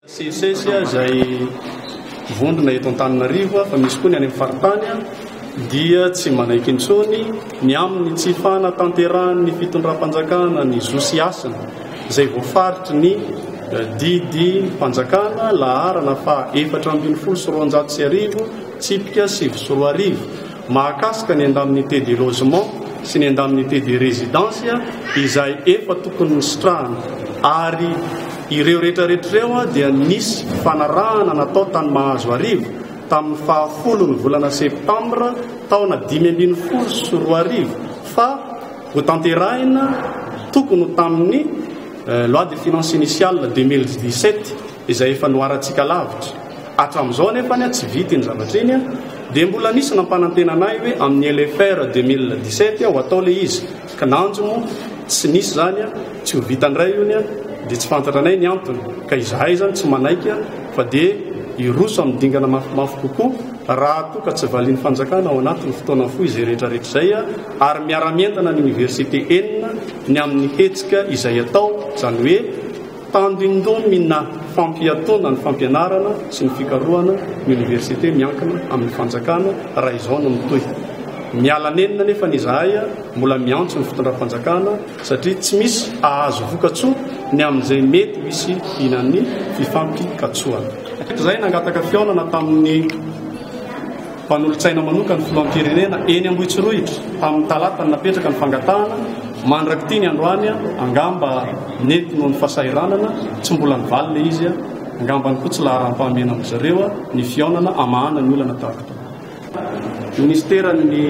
CSS izay vondrona eto Antananarivo fa misy koa ny any amin'ny faritany dia tsy manaiky intsony ny amin'ny tsy fanatanterahan'ny fitondram-panjakana ny zo sy hasina izay voafaritry ny eh, didy fanjakana laharana fa efatra ambin'ny folo sy roanjato sy arivo tsipika sivy sy roa arivo mahakasika ny indemnité de logement sy ny indemnité de résidence izay efa tokony nositrahana ary ireo rehetrarehetra ireo dia nisy fanarahana natao tany Mahazoarivo tamin'ny faha folo ny volana septambra taona dimy ambin'ny folo sy roa arivo fa hotanterahina tokony ho tamin'ny loi de finances initiale deux mille dix-sept izay efa noharantsika lavitra. Hatramin'izao anefa anie tsy vita iny zavatra iny dia mbola nisy nampanantena anay hoe amin'ny LFR 2017 ho atao ilay izy, kinanjo moa tsy nisy izany, tsy ho vita indray io anie dia tsy fantatra anay ny antony ka izahay izany tsy manaiky fa dia hiroso amin'ny dingana mafimafy kokoa raha toa ka tsy valian'ny fanjakana ao anatin'ny fotoana fohy izay rehetrarehetra izay ary miara-mientana ny oniversite enina ny amin'ny hetsika izay atao, izany hoe. Tandindomina fampiatoana ny fampianarana sy ny fikarohana ny oniversite miankina amin'ny fanjakana raha izao no mitohy. Miala nenina anefa ny izahay mbola miantso ny fitondram-panjakana satria tsy misy hahazo vokatsoa ny amin'izay mety ho hisianan'ny fifampikatsoana. Hatrizay nangataka fihaonana tamin'ny. Mpanolotsaina manoka ny filoham-pirenena eny Ambohitsorohitra tamin'ny talata ny napetraka ny fangatahana, mandrak'ity ny androany angamba nety noho ny fasahiranana, tsy mbola nivaly le izy, angambany koa tsy laharam-pahamena amindry zareo ny fihaonana hamahana ny olana tahaka itony. Ministeran'ny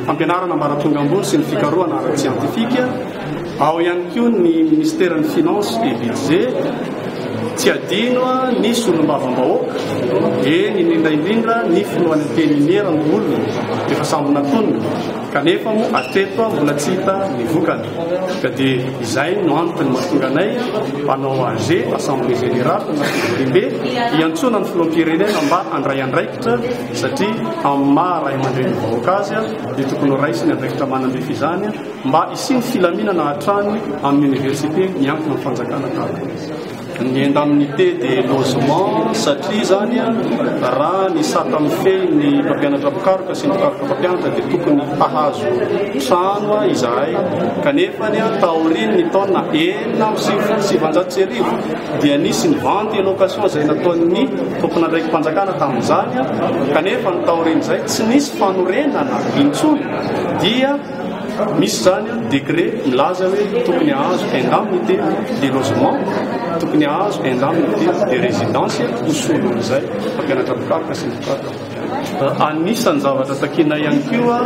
fampianarana ambaratonga ambony sy ny fikarohana ara-tsiantifika. Ao ihany koa ny Ministeran'ny Finances et Budget. Tsy adino ny solombavambahoaka, eny indrindra indrindra ny Filohan'ny Antenimiera Ndoholona efa sambo natonina kanefa moa hatreto mbola tsy hita ny vokany. Ka dia izay no antony mahatonga anay mpanao AG, Assemblée Générale, na Fivoriambe, hiantsoana ny Filoham-pirenena mba handray andraikitra satria amin'ny maha Raiamandrenin'ny vahoaka azy dia tokony ho raisiny andraikitra manam-befy izany. Mba hisian'ny filaminana hatrany amin'ny oniversite miankina amin'ny fanjakana tahaka ny indemnité de logement satria izany raha ny sata mifehy ny mpampianatra mpikaroka sy ny mpikaroka mpampianatra dia tokony hahazo trano izahay kanefa ny taorian'ny taona enina amby sivifolo sy sivanjato sy arivo dia nisy ny vente et location izay nataon'ny tomponandraiki-panjakana tamin'izany kanefa ny taorian'izay tsy nisy fanorenana intsony dia Misy izany an, décret milaza hoe tokony hahazo indemnité de logement, tokony hahazo indemnité de résidence ho solon'izay mpampianatra mpikaroka sy ny mpikaroka mpampianatra. Anisan'ny zavatra takianay ihany koa,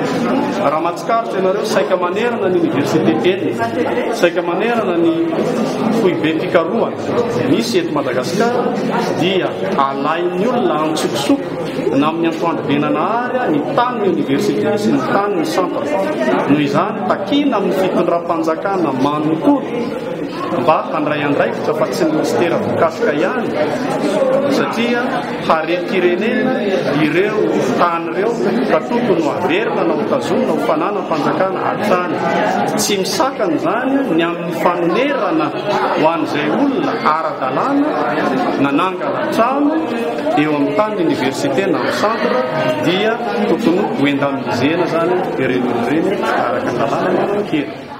raha mahatsikaritra ianareo, saika manerana ny université enina, saika manerana ny foibe fikarohana misy eto Madagasikara dia alain'ny olona antsokosoko, Namin'ny antoandro be nanahary ny tanin'ny oniversite sy ny tanin'ny centre. Noho izany, takiana amin'ny fitondram-panjakana manontolo mba handray andraikitra fa tsy ny minisitera voakasika ihany satria harem-pirenena ireo tany ireo ka tokony ho averina na ho tazomina ho fananam-panjakana hatrany. Tsy misakana izany ny amin'ny fanonerana Ho an'izay olona ara-dalàna nanangana trano eo amin'ny tanin'ny Oniversite na amin'ny Centre dia tokony ho indemnisena izany ireny olona ireny araka ny lalàna ny Toenkira.